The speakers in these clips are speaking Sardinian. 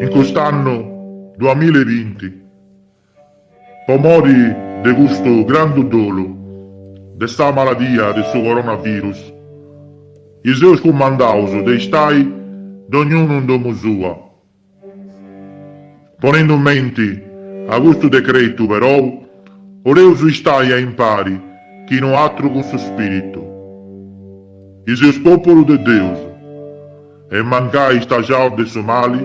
In cust'annu duamilla e binti, po mori de custu grandu dolu de sa maladia de su coronavirus, i seus cumandaus de istai dognunu in domu sua, Ponendu in menti a custu decretu, perou, oleus istai a impari chi no atru cun su Spiritu. I seus populu de Deus e mancai istajaus de su mali,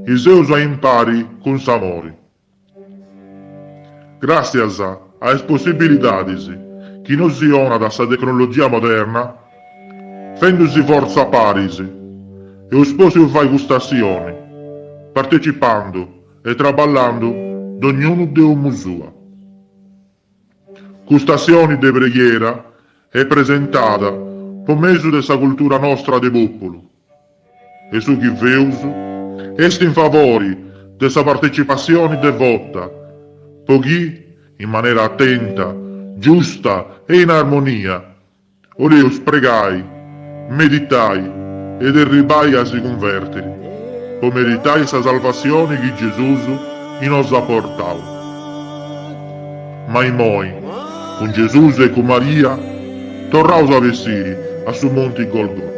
i seus a impari cun s'amori. Gràtzias a is possibilidadis chi nosi 'onat sa tecnologia moderna, fendusì fortza paris, eus pòssiu fai cust'assioni, partecipandu e traballandu dognunu de 'omu sua. Cust'assioni de preghiera est presentada po mesu de sa cultura nostra de pòpulu e su chi feus est in favori de sa partecipassioni devota po chi, in manera atenta, giusta e in armonia, Oleus pregai, meditai e erribai a si cunvertiri, po meritai sa salvassioni chi Gesus i nos at portau. Ma imoi, cun Gesus e cun Maria, torraus a bessiri a su monti Golgota.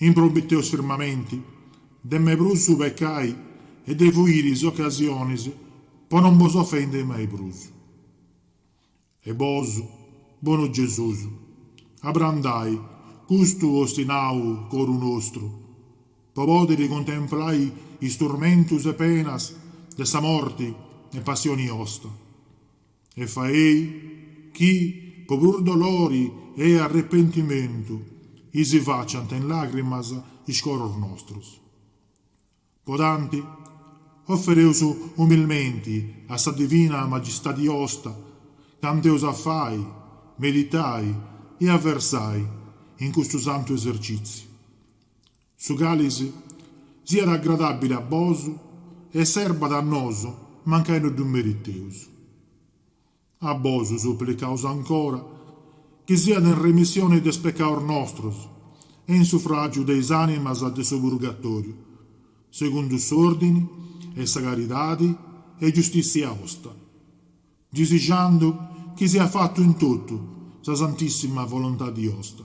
Impromiteus firmamenti de mai prus su pecai e de fuiri is ocasionis po non bos ofendi mai prus. E bos, bonu Gesus, abrandai custu ostinau coru nostru, po podiri contemplai is turmentus e penas de sa morti e passioni 'osta. E faei chi, po puru dolori e arrepentimentu, i si faciant in làgrimas is coros nostros. Po tanti, ofereus umilmenti a sa divina magistadi osta, cantu eus a fai, meditai e a versai in custu santu esercìtziu. Su cali si siat agradàbili a bos e serbat a nos mancai no ddu meriteus. A bos suplicaus ancora chi siat in remissioni de is pecaus nostros e in sufràgiu de is ànimas de su purgatòriu, segundu s'òrdini 'e sa caridadi e giustìssia osta, disixandu chi siat fatu in totu sa santìssima volontadi osta.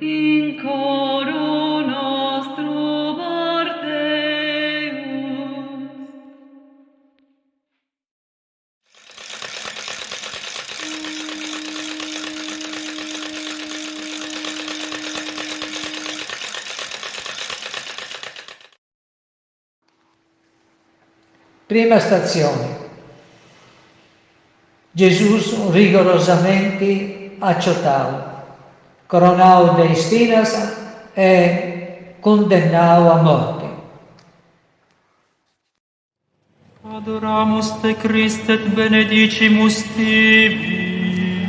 In coru nostru porteus. Prima statzioni, Gesus rigorosamenti acciotau, coronau de ispinas e cundennau a morti. Adoramus te Christe et benedicimus tibi.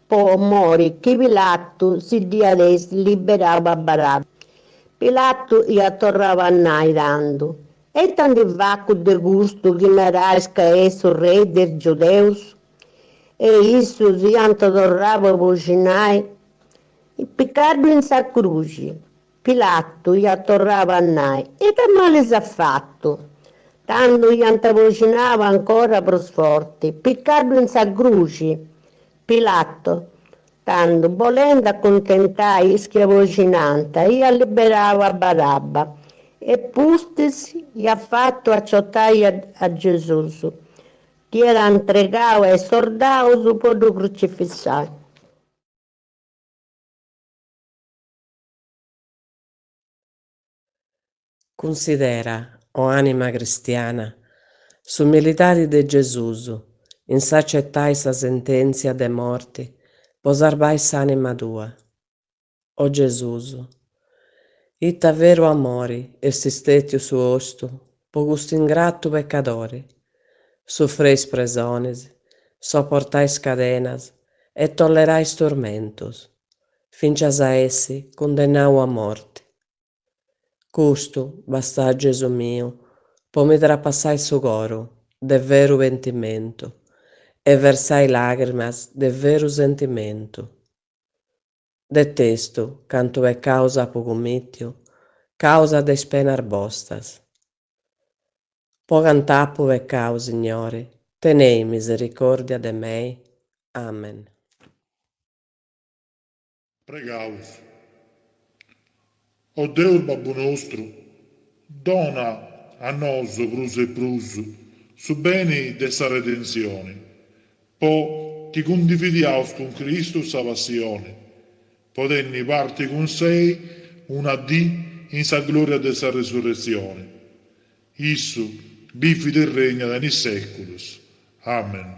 po mori chi Pilatu si dd'iat essi liberau a Barabba. Pilatu iat torrau a nai tandu, E ita ndi facu de custu chi narais ca est su rei de is Giudeus? E issus iant torrau a boxinai, Picaddu in sa cruxi! Pilatu iat torrau a nai, E ita mali s'at fatu? Tandu iant boxinau ancora prus forti, Piccaddu in sa cruxi! Pilatu, tandu, bolendu acuntentai is chi aboxinànt, iat liberau a Barabba e pustis iat fatu aciotai a Gesùs, dd'iat antregau a is sordaus po ddu crucifissai. Cunsidera, o ànima cristiana, s'umilidadi de Gesùs in s'acetai sa sentèntzia de morti po sarbai s'ànima tua. O Gesùs, ita veru amori est stètiu su ostu po custu ingratu pecadori! Sufreis presonis, soportais cadenas e tollerais turmentus. fincias a essi cundennau a morti. Custu basta, Gesù miu po mi trapassai su coru de veru pentimentu e versai lagrimas de veru sentimentu. Detestu cantu peccaus apu cummittiu causa de is penas bostas. Po cant'apu peccau, Signori, tenei misericordia de mei. Amen. Pregaus. O Deus Babbu nostru, dona a nosu prus e prus su beni de sa redentzioni, po chi cundividiaus cun Cristu sa passioni, po tenni parti cun Sei una dì in sa gloria de sa resurretzioni. Issu bivit e regnat in is seculus. Amen.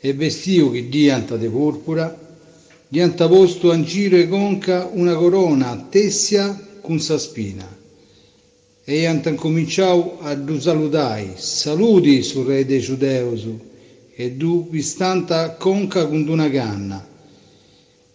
E bestiu chi dd'iant de pùrpura, dd'iant postu a ingiru 'e conca una corona tèssia cun sa spina, e iant incominciau a ddu saludai, Saludi, su Rei de is Giudeus! e ddu pistànt a conca cun d-una canna,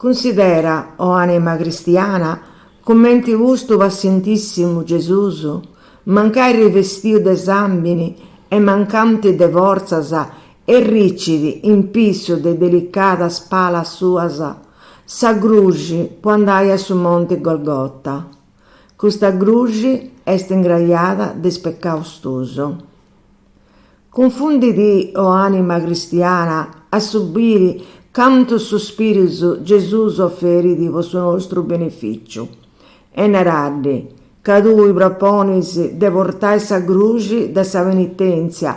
Cunsidera, o ànima cristiana, cumenti custu passientìssimu Gesùs, mancai ribestiu de sàmbini e mancanti de fortzas arricit in pissu de is delicadas palas suas sa gruxi po andai a su monti Golgota. Custa gruxi est ingrajada de is pecaus tuus. Cunfunditi o anima cristiana a su biri cantus suspirus Gesus offerit po su nostru benefìciu e naraddi ca tui proponis de portai sa gruxi de sa penitentzia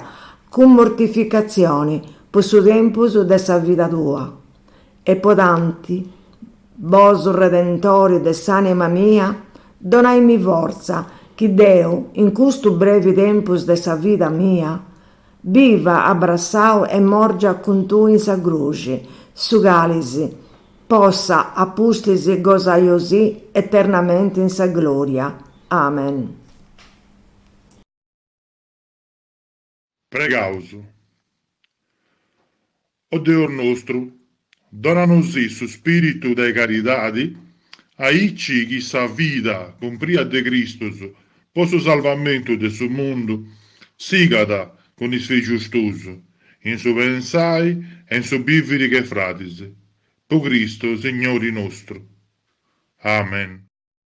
cun mortificazioni po su tempus de sa vida tua E po tanti, bosu Redentori de s'anima mia, donaimi fortza chi deu in custu brevi tempus de sa vida mia, biva abbratzau e morgia cun tui in sa Cruxi, su cali si possa a pustis gosaiosì eternamenti in sa gloria. Amen. Pregaus. O Deus nostru, donanosì su spiritu de caridadi, aici chi sa vida cumpria de Cristus po su salvamentu de su mundu sigat cun is fixus tuus in su pensai e in su biviri che fradis, po Cristu Signori nostru. Amen.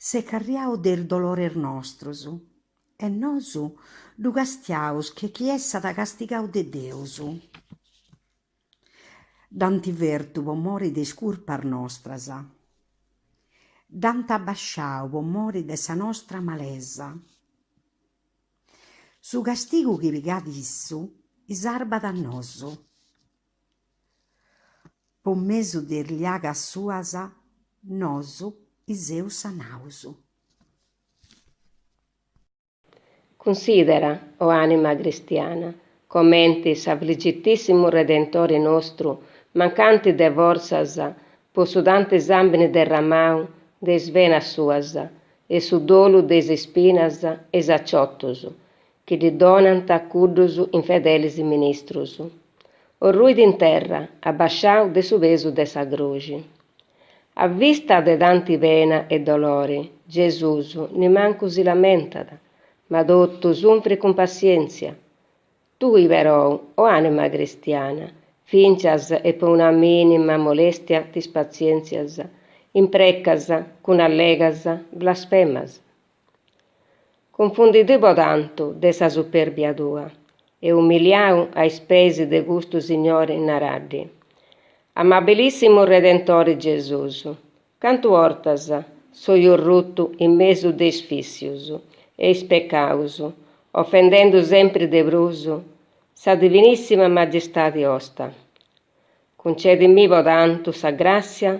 S'est carriadu de is dolores nostros, e nosu ddu castiaus che chi essat castigadu de Deus. Dd'ant fertu po mori de is curpas nostras, dd'ant abasciadu po mori de sa nostra malesa. Su castigu chi pigat issu sarbat a nosu. Po mesu de is liagas suas nosu seus sanaus. Cunsidera, o anima cristiana, comenti s'Afligitìssimu Redentori nostru, mancanti de fortzas po su tanti sàmbini derramau de is venas suas e su dolu de is ispinas e is aciotus, Chi ddi donant cuddus infedelis ministrus, orruit in terra, abbasciau de su pesu de sa Cruxi. A vista de tanti pena e dolori, Gesus nimancu si lamentat, ma totu sunfrit cun passientzia. Tui, perou, o anima cristiana, fincias po una minima molestia t'ispazientzias, imprecas cun allegas blasfemas. Cunfundidì po tantu de sa superbia tua e umiliau a is peis de custu Signori naraddi, Amabilissimu Redentori Gesus, cantu ortas soi orruttu in mesu de is fissius e is peccaus, offendendu sempri de prus sa Divinissima Magistadi osta. Cuncedimì po tantu sa gràssia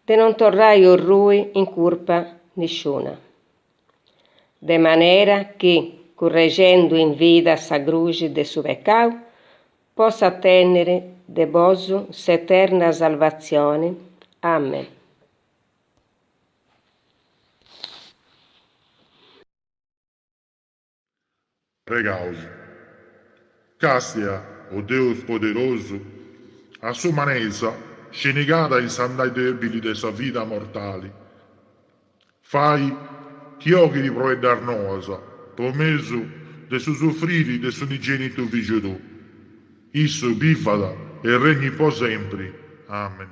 de non torrai orrui in curpa nisciuna. De manera chi, currexendu in vida sa cruxi de su pecau, possa tènniri de bosu s'eterna salvatzioni. Amen. Pregaus, càstia, o Deus poderosu, a s'umanesa scenigada in s'andai dèbili de sa vida mortali, fai chi oghit froeddas noas po mesu de su sufriri de s'unigènitu Fìgiu tou. Issu bivat e regnit po sempri. Amen.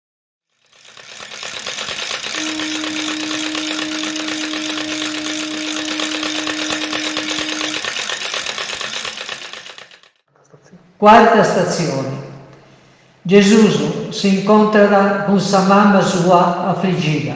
Cuarta statzioni. Gesùs s'incontrat cun sa mama sua afrigida.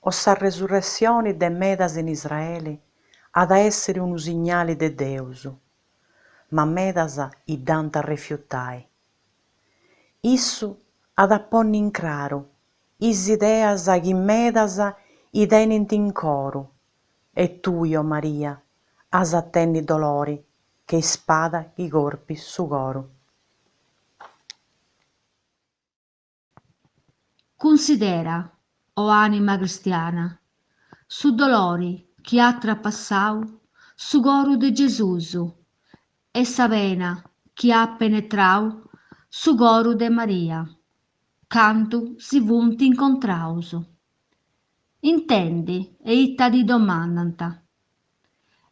o sa resurressioni de medas in Israeli at a èssiri unu signali de Deus, ma medas idd'ant a refiutai. Issu at a ponni in craru is ideas chi medas tenint in coru e tui, o Maria, as a tenni dolori che ispada chi corpit su coru. Cunsidera, o ànima cristiana, su dolori chi at trapassau su coru de Gesùs e sa pena chi at penetrau su coru de Maria candu si funt incontraus. Intendi e ita ti domandant.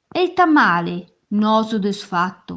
E ita mali nosu t'eus fatu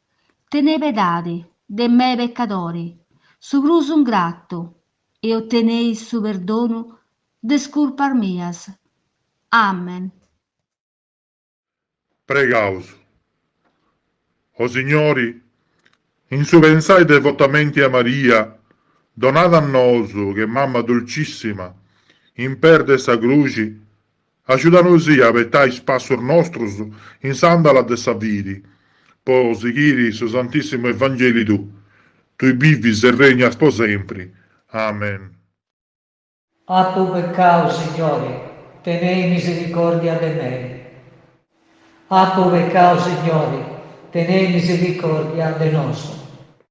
Tene pedadi de mei peccadori, su prus ingratu, e ottenei su perdonu de is curpas mias. Amen. Pregaus. O Signori, in su pensai devotamenti a Maria, donada a nosu che Mamma Dulcissima, in peis de sa Cruxi, Agiudanosì a betai is passus nostrus in s'andala de sa fidi, po sighiri su Santissimu Evangeli tuu, Tui bivis e regnas po sempri. Amen. Apu peccau, Signori, tenei misericordia de mei. Apu peccau, Signori, tenei misericordia de nosu.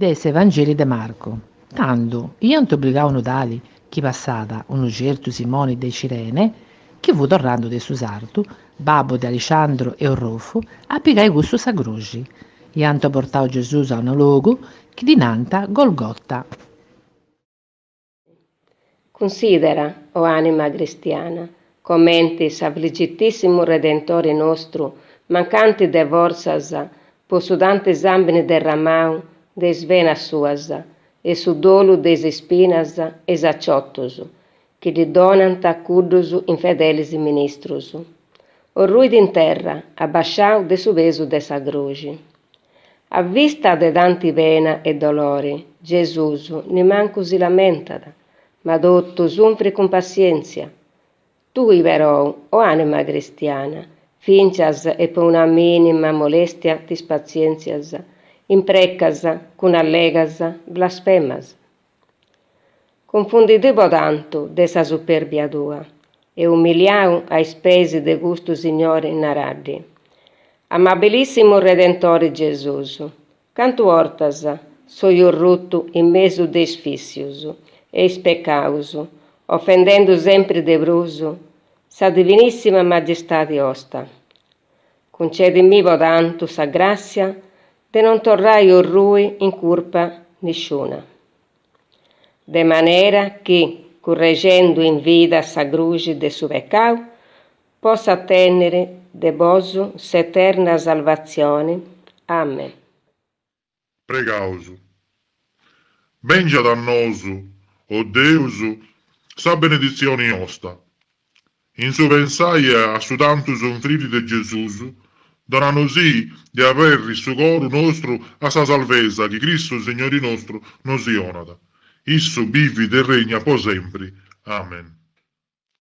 de s'Evangeli de Marcu, tando iant obligau unu tali, chi passàt, unu certu Simoni de Cirene, chi fut torràndu de su sartu, babbu de Alixandru e Orrufu, a pigai cussu sa croxi. Iant portau Gesus a unu logu, chi ddi nànt Golgota. Cunsidera, o ànima cristiana, comenti s'Afligitìssimu Redentori nostru, mancanti de fortzas po su tanti sàmbini derramau de is venas suas e su dolu de is ispinas e is aciotus chi ddi donant cuddus infedelis ministrus, orruit in terra, abasciau de su pesu de sa Croxi. A vista de tanti pena e dolori, Gesùs nimancu si lamentat, ma totu sunfrit cun passièntzia. Tui, perou, o ànima cristiana, fìncias e po una mìnima molèstia t'ispazièntzias, imprecas cun allegas blasfemas, Cunfundidì po tantu de sa superbia tua e umiliau a is peis de custu Signori naraddi, Amabilissimu Redentori Gesus, cantu 'ortas soi orruttu in mesu de is vissius e is peccaus, offendendu sempri de prus sa Divinissima Magistadi 'osta. Cuncedimì po tantu sa gràssia de non torrai orrui in curpa nisciuna. De manera chi, currexendu in vida sa cruxi de su pecau, possa tènniri de bosu s'eterna salvatzioni. Amen. Pregaus. Bèngiat a nosu, o Deus, sa beneditzioni osta. In su pensai a su tantu sunfriri de Gesus, donanusì de aberri su coru nostru a sa salvesa chi Cristu Signori nostru nosi 'onat. Issu bivit e regnat po sempri. Amen.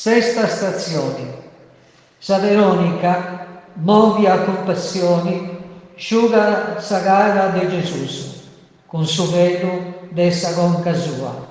Sesta statzioni. Sa Veronica, mòvia a cumpassioni, sciugat sa cara de Gesùs cun su velu de sa conca sua.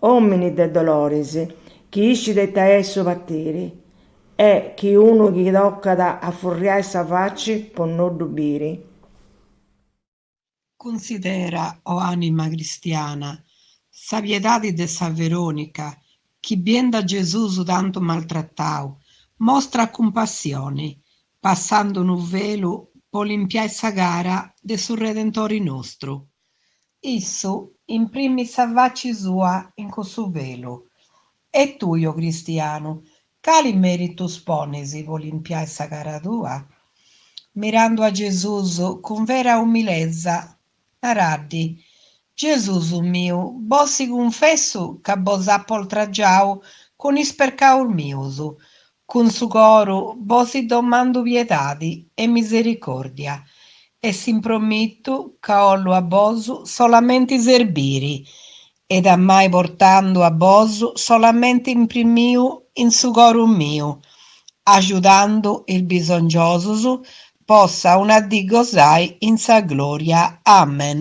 Omini de doloris, chi iscit ita est su patiri, e chi unu chi tocat a furriai sa faci po no ddu biri. Cunsidera, o anima cristiana, sa piedadi de sa Veronica, chi biendi a Gesusu tantu maltratau, mostrat cumpassioni, passandu unu velu po limpiai sa cara de su Redentori nostru. Issu imprimit sa faci sua in cussu velu. E tui, o cristianu, cali meritus ponis po limpiai sa cara tua? Mirandu a Gesus cun vera umilèntzia, naraddi, Gesus miu, bosi cunfessu ca bos apo oltragiau cun is pecaus mius, Cun su coru bosi domandu piedadi e misericordia e s'impromittu ca 'ollu a bosu solamenti serbiri ed amai portandu a bosu solamenti imprimiu in su coru miu, ajudandu is bisongiosus possa una dì gosai in sa gloria. Amen.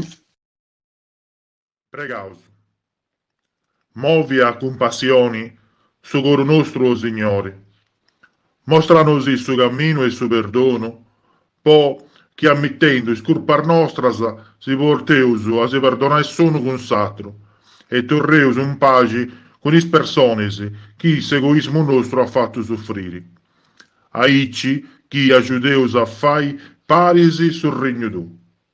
Pregaus. Movi a cumpassioni su coru nostru, o Signori, mòstranosì su caminu de su perdonu, po chi ammittendu is curpas nostras si porteus a si perdonai s'unu cun s'atru e torreus in paxi cun is personis chi s'egoismu nostru at fattu suffriri, aici chi ajudeus a fai paris su Regnu tou.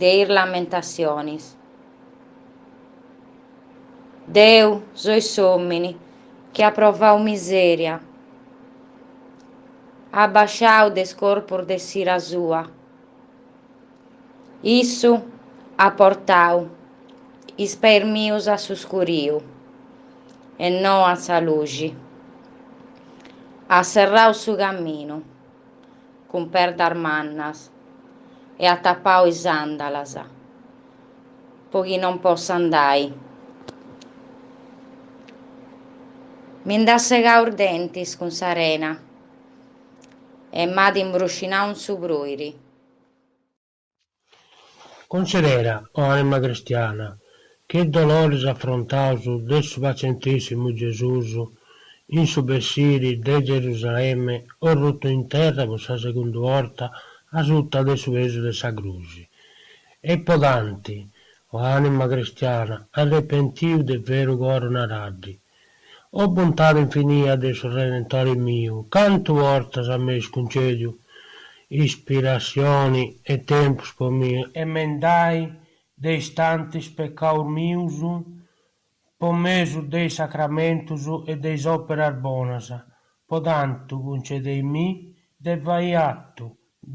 de is lamentatzionis. Deu soi s'òmini chi at provau misèria, a bàsciu de is corpus de s'ira sua, issu at portau is peis mius a su scuriu e no a sa luxi, at serrau su caminu. cun perdas mannas e at tapau is àndalas po chi non possa andai. Mi nd'at segau is dentis cun s'arena e m'at imbruscinau in su pruiri. Considera, o anima cristiana, che doloris afrontaus de su pazientìssimu Gesùs in su bessiri de Gerusalemme orrutu in terra po sa segunda borta asuta de su pesu de sa Cruxi, e po tantu, o anima cristiana, arrepentiu de veru coro naraddi, O bontade infinia de su Redentore miu, cantu 'ortas a m'eis cuncediu ispirascioni e tempus po mi emendai de is tantis peccaus mius po mesu de is sacramentus e de is operas bonas, po tantu cuncedei mi de fai attu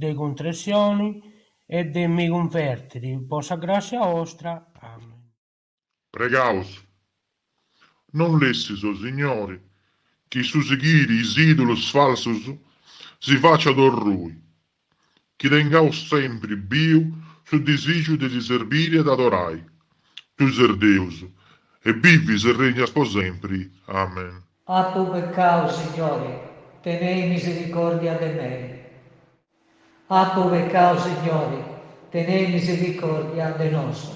de contressioni e de mi cunvertiri po sa grassia 'ostra. Amen. Pregaus, non lessis, o Signori, chi su sighiri is idulus falsus si faciat orrui, chi tengaus sempri biu su disìgiu de ti serbiri e t'adorai, tui ses Deus, e bivis e regnas po sempri. Amen. Apu peccau, Signori, tenei misericordia de mei. Apu peccau, Signori, tenei misericordia de nosu.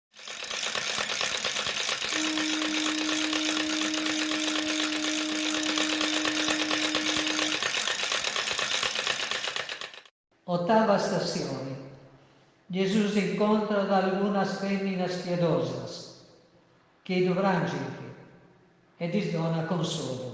Otava Stassioni. Gesùs incontrat algunas fèminas piedosas chi ddu pràngint e ddis donat consolu.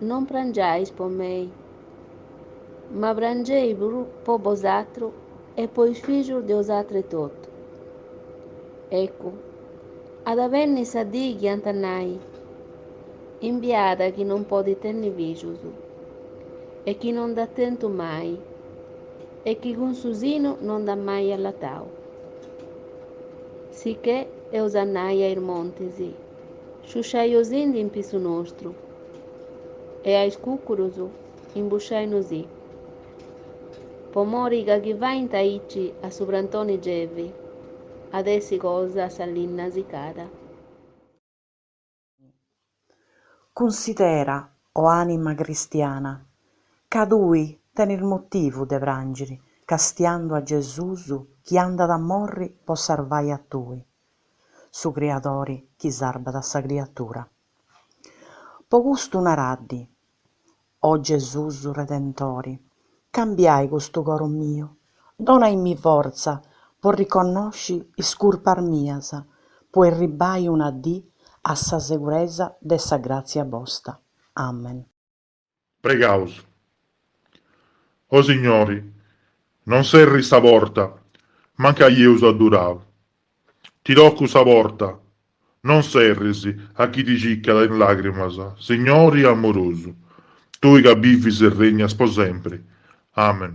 Non prangiais po mei, ma prangei puru po bosatrus e po is fillus de 'osatrus etotu. Ecu, at a benni sa dii chi ant a nai, Imbiada chi non podit tenni fillus, e chi non nd'at tentu mai, e chi cun su sinu non nd'at mai allatau. Sicchè eus a nai a is montis, Sciusciainosindi in pisu nostru e a is cucurus imbusciainosì, po mori ca chi faint aici a su prantoni gevi at essi cosa sa linna sicada. Cunsidera, o anima cristiana, ca tui tenit motivu de prangiri castiandu a Gesusu chi andat a morri po sarvai a tui. su Criadori chi sarbat sa criatura. Po custu naraddi, O Gesùs Redentori, cambiai custu coro miu, donaimmi fortza po riconnosci is curpas mias, po erribai una dì a sa seguresa de sa gràtzia Bosta. Amen. Pregaus. O Signori, non serris sa porta, mancai eus addurau. Ti tocaus sa porta, non serris a chi ti cicat in lagrimas, Signori amurusu, tui ca bivis e regnas po sempri. Amen.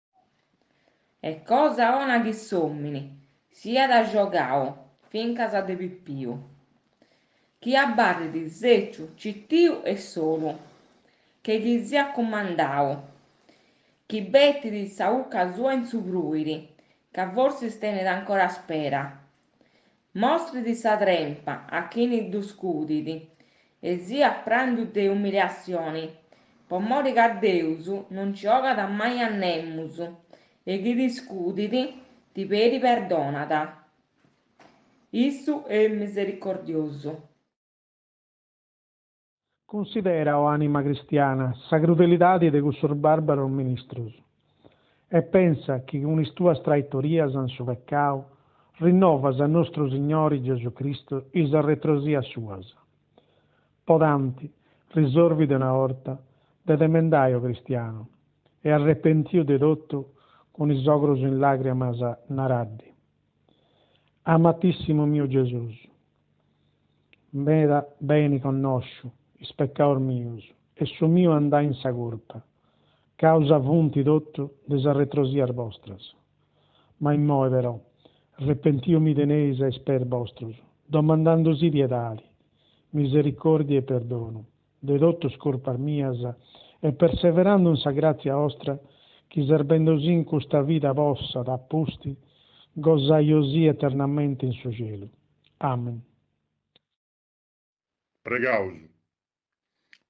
Est cosa 'ona chi s'òmini siat agiogau fincas a de pipiu, chi abarrit sèciu citiu e solu, che ddi siat cumandau, chi betit sa 'ucca sua in su pruiri, ca forsis tenet ancora spera, Mostrit sa trempa a chini ddu scudit, e siat prandu de umiliassioni, po mori ca Deus non nci 'ogat mai a nemus, e chi ti scudit, ti peri perdonat. Issu est misericordiosu. Cunsidera, o ànima cristiana, sa crudelidade de cussos bàrbaros ministros e pensa chi cun is tuas traitorias in su pecau rinnovas a nostru Signori Gesù Cristu is arretrosias suas. Po tanti, risorvi de una 'orta de te mendai, o cristianu, e arrepentiu de totu cun is ogros in làgrimas naraddi. Amatissimu miu Gesus, meda beni connosciu is peccaus mius e su miu andai in sa curpa, causa funti totu de sas retrosias bostras. Ma immoi però, repentiu mi teneis a is peis bostros, domandandusì piedadi, misericordia e perdonu. de totus curpas mias, e perseverandu in sa gratzia 'ostra, chi serbendusì in custa vida possat, a pusti, gosai 'osì eternamente in su cielu. Amen. Pregaus.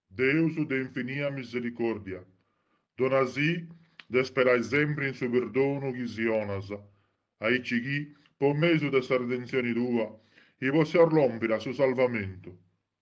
Deus de infinia misericordia, donasì de sperai sempri in su perdonu chi si 'onas, aici chi, po mesu de sa redenzioni tua, i possiaus lompiri a su salvamentu,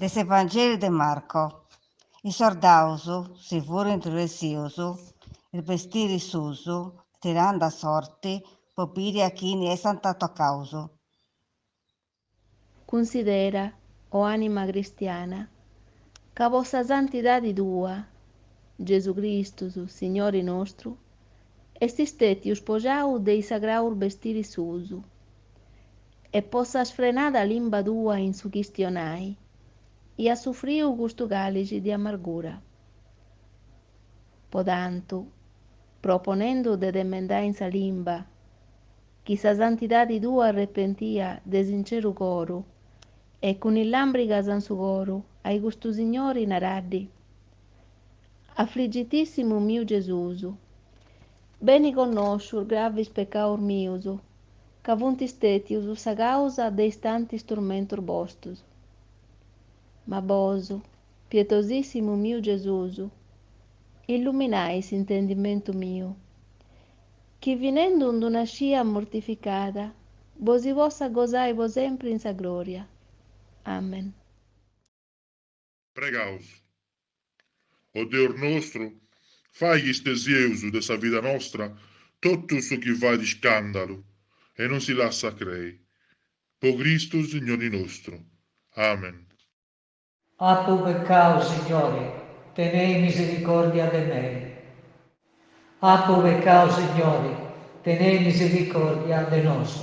De s'Evangeliu de Marco. Is sordaus si furint ressius is bestiris suus, tirandu a sorti po biri a chini essant tocaus. Cunsidera, o anima cristiana, ca po sa santidadi tua, Gesù Cristus, Signori nostru, Est stètiu spogiau de is sagraus bestiris suus. E po sa sfrenada limba tua in su chistionai, e at sufriu custu càlixi de amargura. Po tantu, proponendu de t'emendai in sa limba, chi sa santidadi tua arrepentia de sinceru coru, e cun is làmbrigas in su coru, ai custu signori naraddi, Afligitìssimu miu Gesusu. Beni connosciu is gravis pecaus mius, ca funt stètius sa càusa de is tantis turmentus bostus. Ma bosu, pietosìssimu miu Gesusu, illuminai s'intendimentu miu, chi finendu in d-una scia mortificada bosi possa gosai po sempri in sa glòria. Amen. Pregaus, o Deus nostru, fai chi stesieus de sa vida nostra totu su chi fait iscàndalu e non si lassat crei. Po Cristu Signori nostru. Amen. Apu peccau, Signori, tenei misericordia de mei. Apu peccau, Signori, tenei misericordia de nosu.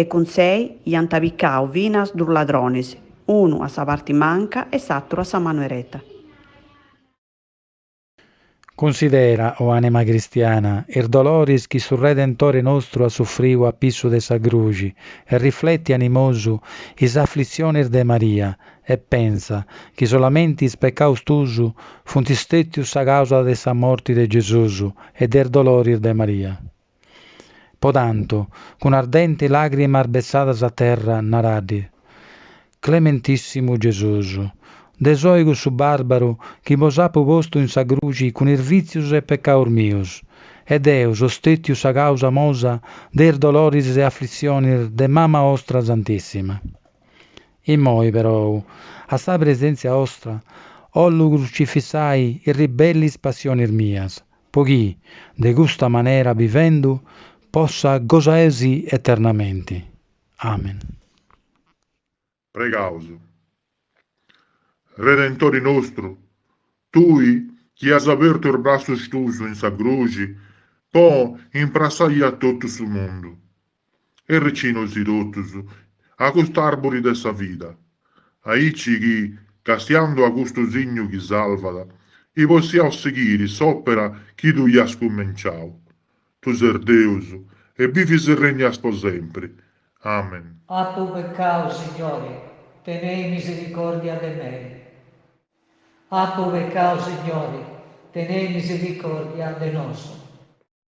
e cun sei iant apicau finas dus ladronis, unu a sa parti manca e s'atru a sa manu ereta. Cunsidera, o anima cristiana, is doloris chi su Redentore nostru at sufriu a pissu de sa Cruxi e rifleti animosu is aflitzionis de Maria e pensa chi solamenti is pecaus tuus funt stetius sa causa de sa morti de Gesusu e de is doloris de Maria. Po tantu, cun ardenti làgrimas betzadas a terra, naraddi, Clementìssimu Gesusu, deu soi cussu bàrbaru chi bos apu postu in sa cruci cun is vìtzius e pecaus mius, e deu so stètiu sa càusa mosa de is doloris e aflitzionis de mama ostra santìssima. Imoi, perou, a sa presèntzia ostra, ollu crucifissai is ribellis passionis mias, po chi, de custa manera bivendu, possa gosaesi eternamenti. Amen. Pregaus. Redentori nostru, Tui chi as abertu is brassus Tuus in sa Cruxi po imprassai a totu su mundu, e recinosi totus a cust'arburi de sa vida, aici chi, castiandu a custu signu chi salvat, i possiaus sighiri s'òpera chi tui as cumenciau. Tu ses Deus e bivis e regnas po sempri. Amen. Apu peccau, Signori, tenei misericordia de mei. Apu peccau, Signori, tenei misericordia de nosu.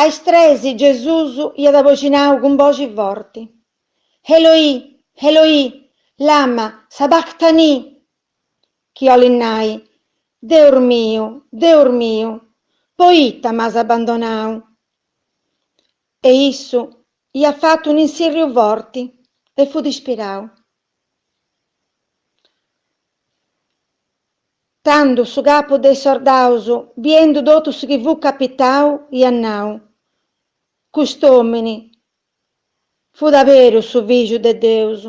A is tres Gesùs iat bocinau cun boxi forti, Eloì, Eloì, lama sabactani? chi 'olit nai, Deus miu, Deus miu, poita m'as abandonau? E issu iat fatu un'insirriu forti e fut ispirau. Tando su capu de is sordaus, biendu totu su chi fut capitau, iat nau, Cust'omini fut a berus su Figiu de Deus.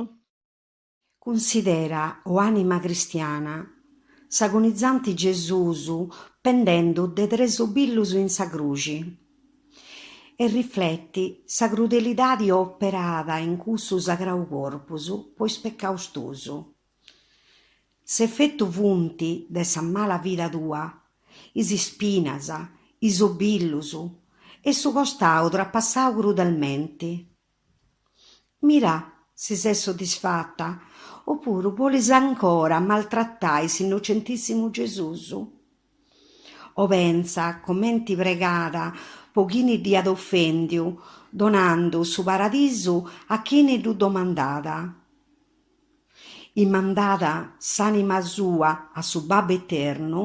Cunsidera, o anima cristiana, s'agonizanti Gesusu pendendu de tres obillus in sa cruxi. e rifleti sa crudelidadi operada in cussu sagrau corpus po is pecaus tusu. S'efetu funti de sa mala vida tua, is ispinas, is obillus e su costau trapassau crudelmenti, Mira si ses soddisfata o puru bolis ancora maltratai s'Innocentìssimu Gesùs. O pentza comenti pregat po chini dd'iat ofèndiu, donandu su paradisu a chini ddu domandat. Imandat s'ànima sua a su Babbu Eternu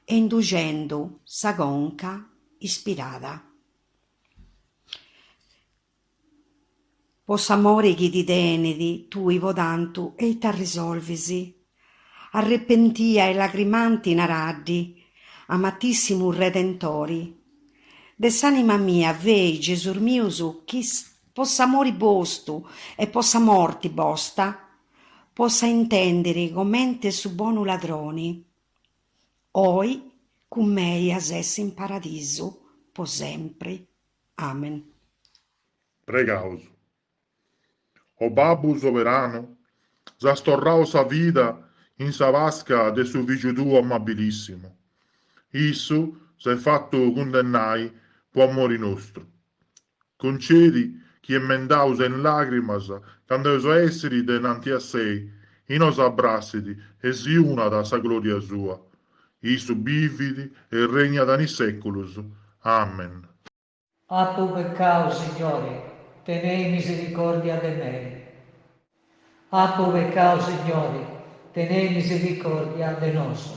e induxendu sa conca ispirat. Po s'amori chi ti tenit. Tui po tantu e ita arrisolvis? Arrepentia e lagrimanti naraddi, Amatissimu Redentori, de s'anima mia fei Gesus mius chi po s'amori bostu e po sa morti bosta possa intendiri comenti su bonu ladroni. Oi cun mei as a essi in paradisu po sempri. Amen. Pregaus. O Babbu soberanu, si as torrau sa vida in sa Pasca de su Fìgiu tuu amabilissimu. Issu s'est fatu cundennai po amori nostru, Concedi chi emendaus in làgrimas candu eus a èssiri denanti a sei inos abrassit e si unat a sa glòria sua. Issu bivit e regnat in is sèculus. Amen. Apu peccau, Signori, tenei misericordia de mei. Apu peccau, Signori, tenei misericordia de nosu.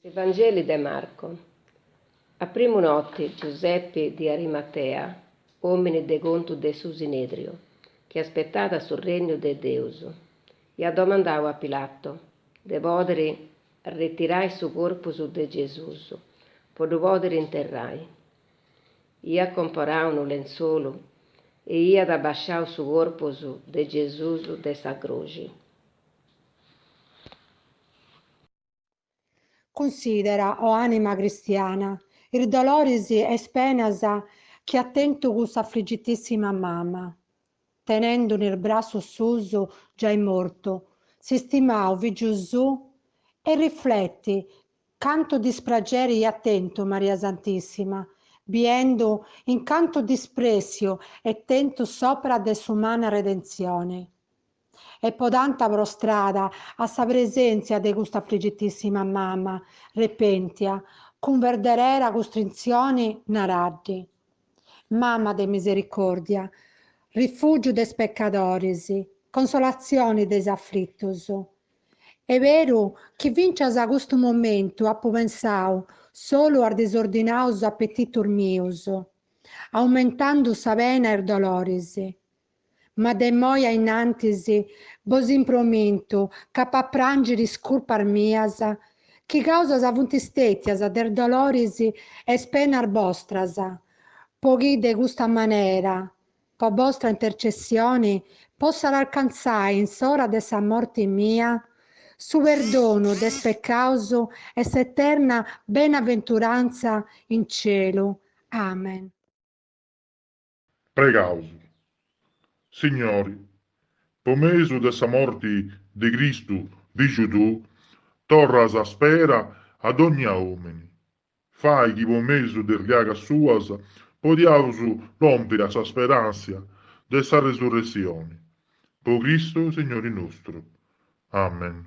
S'Evangeli de Marco. A primu noti Giusepi di Arimatea, omini de contu de su Sinedriu, chi aspetàt su Regnu de Deus, iat domandau a Pilato de podiri retirai su corpus de Gesus po ddu podiri interrai. Iat comporau unu lentzolu e iat abasciau su corpus de Gesus de sa cruxi. Cunsidera, o ànima cristiana, is doloris e is penas chi at tentu cuss'afligitissima mama, tenendu in is brassus suus, giai mortu, s'istimau fìgiu suu e rifleti cantu disprageri iat tentu Maria Santissima, biendu in cantu disprèssiu est tentu s'òpera de s'umana redentzioni. e po tantu prostrada a sa presèntzia de custa afligitíssima mama arrepèntia, cun verdadera cuntritzioni naraddi, Mama de misericòrdia, rifùgiu de is pecadoris, consolatzioni de is aflitus. Est beru chi fintzas a custu momentu apu pensau solu a is disordinaus apetitus mius, aumentandu sa pena e is doloris. Ma de immoi a innantis bos impromintu ch'apo a pràngiri is curpas mias, chi causa funt stètias de is doloris e is penas bostras, po chi de custa manera, po bostra intercessioni, possat alcantzai in s'ora de sa morti mia, su perdonu de is pecaus e s'eterna benaventurantza in celu. Amen. Pregaus. Signori, po mesu de sa morti de Cristu Fiju Tuu, torras sa spera a dognia omini, fai chi po mesu de is liagas Suas potzaus lompiri a sa speransia de sa resurressioni, po Cristu Signori nostru. Amen.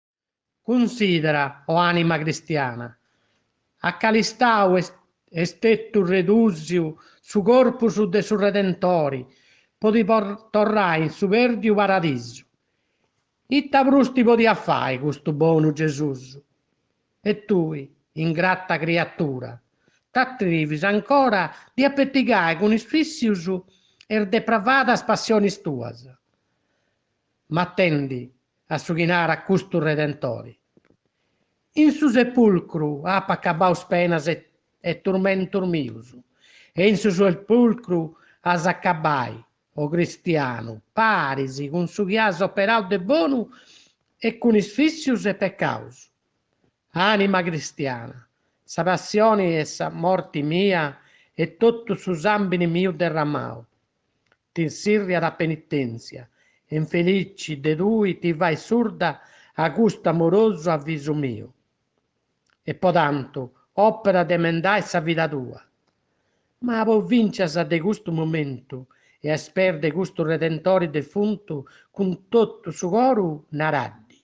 Cunsidera, o anima cristiana, a cal'istau est estetu redusiu su corpus de su Redentori po ti torrai in su perdiu paradisu. Ita prus ti podiat fai custu bonu Gesus? E tui, ingrata criatura, t'atrivis ancora dd'apetigai cun is vissius e is depravadas passionis tuas? Ma atendi a su chi narat custu Redentori, In su sepulcru apo acabbaus penas e turmentus mius, e in su sepulcru as a acabbai, o cristianu, paris cun su chi as operau de bonu e cun is vissius e pecaus. Anima cristiana, sa passioni e sa morti mia e totu su sambini miu derramau, t'insirriat a penitèntzia, infelici de tui ti fais surda a custu amorosu avisu miu, e po tantu òpera de emendai sa vida tua. Ma po fìncias de custu momentu e a is peis de custu redentori defuntu cun totu su coru naraddi,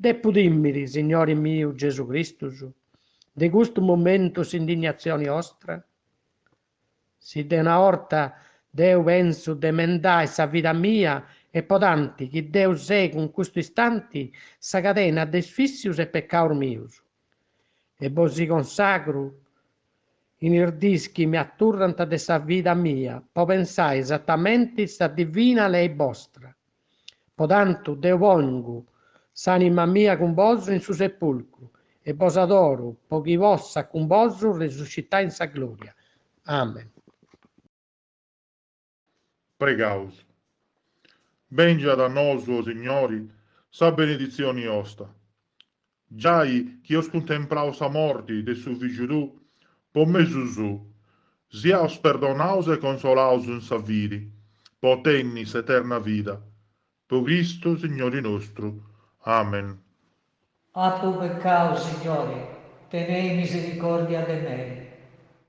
depu tìmiri, Signori miu Gesù Cristus, de custu momentu s'indignatzioni ostra? Si de una 'orta deu pensu de emendai sa vida mia e po tanti chi deu segu in custu istanti sa cadena de is vissius e pecaus mius, e bosi consagru in is dis chi mi aturrant de sa vida mia po pensai esatamenti sa divina lei bostra, Po tantu deu pongu s'anima mia cun bosu in su sepulcru e bos adoru po chi possa cun bosu resuscitai in sa gloria. Amen. Pregaus. Bengiat a nosu, o Signori, sa beneditzioni osta, Giai chi eus contemplau sa morti de su fìgiu tuu, po mesu suu, siaus perdonaus e consolaus in sa fidi, po tenni s'eterna vida, po Cristu Signori nostru. Amen. Apu peccau, Signori, tenei misericòrdia de mei.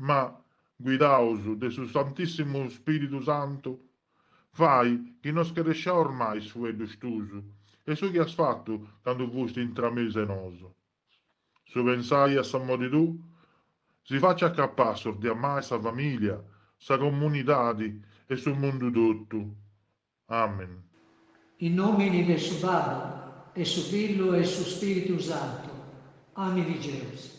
ma, guidaus de su Santissimu Spiritu Santu, fai chi no scaresciaus mai is fueddus tuus e su chi as fattu candu fusti intra mesu 'e nosu. Su pensai a s'amori tuu si faciat capassus de amai sa familia, sa comunidadi e su mundu tottu. Amen. In nomini de su Babbu, e su Fillu e su Spiritu Santu. Amen Gesus.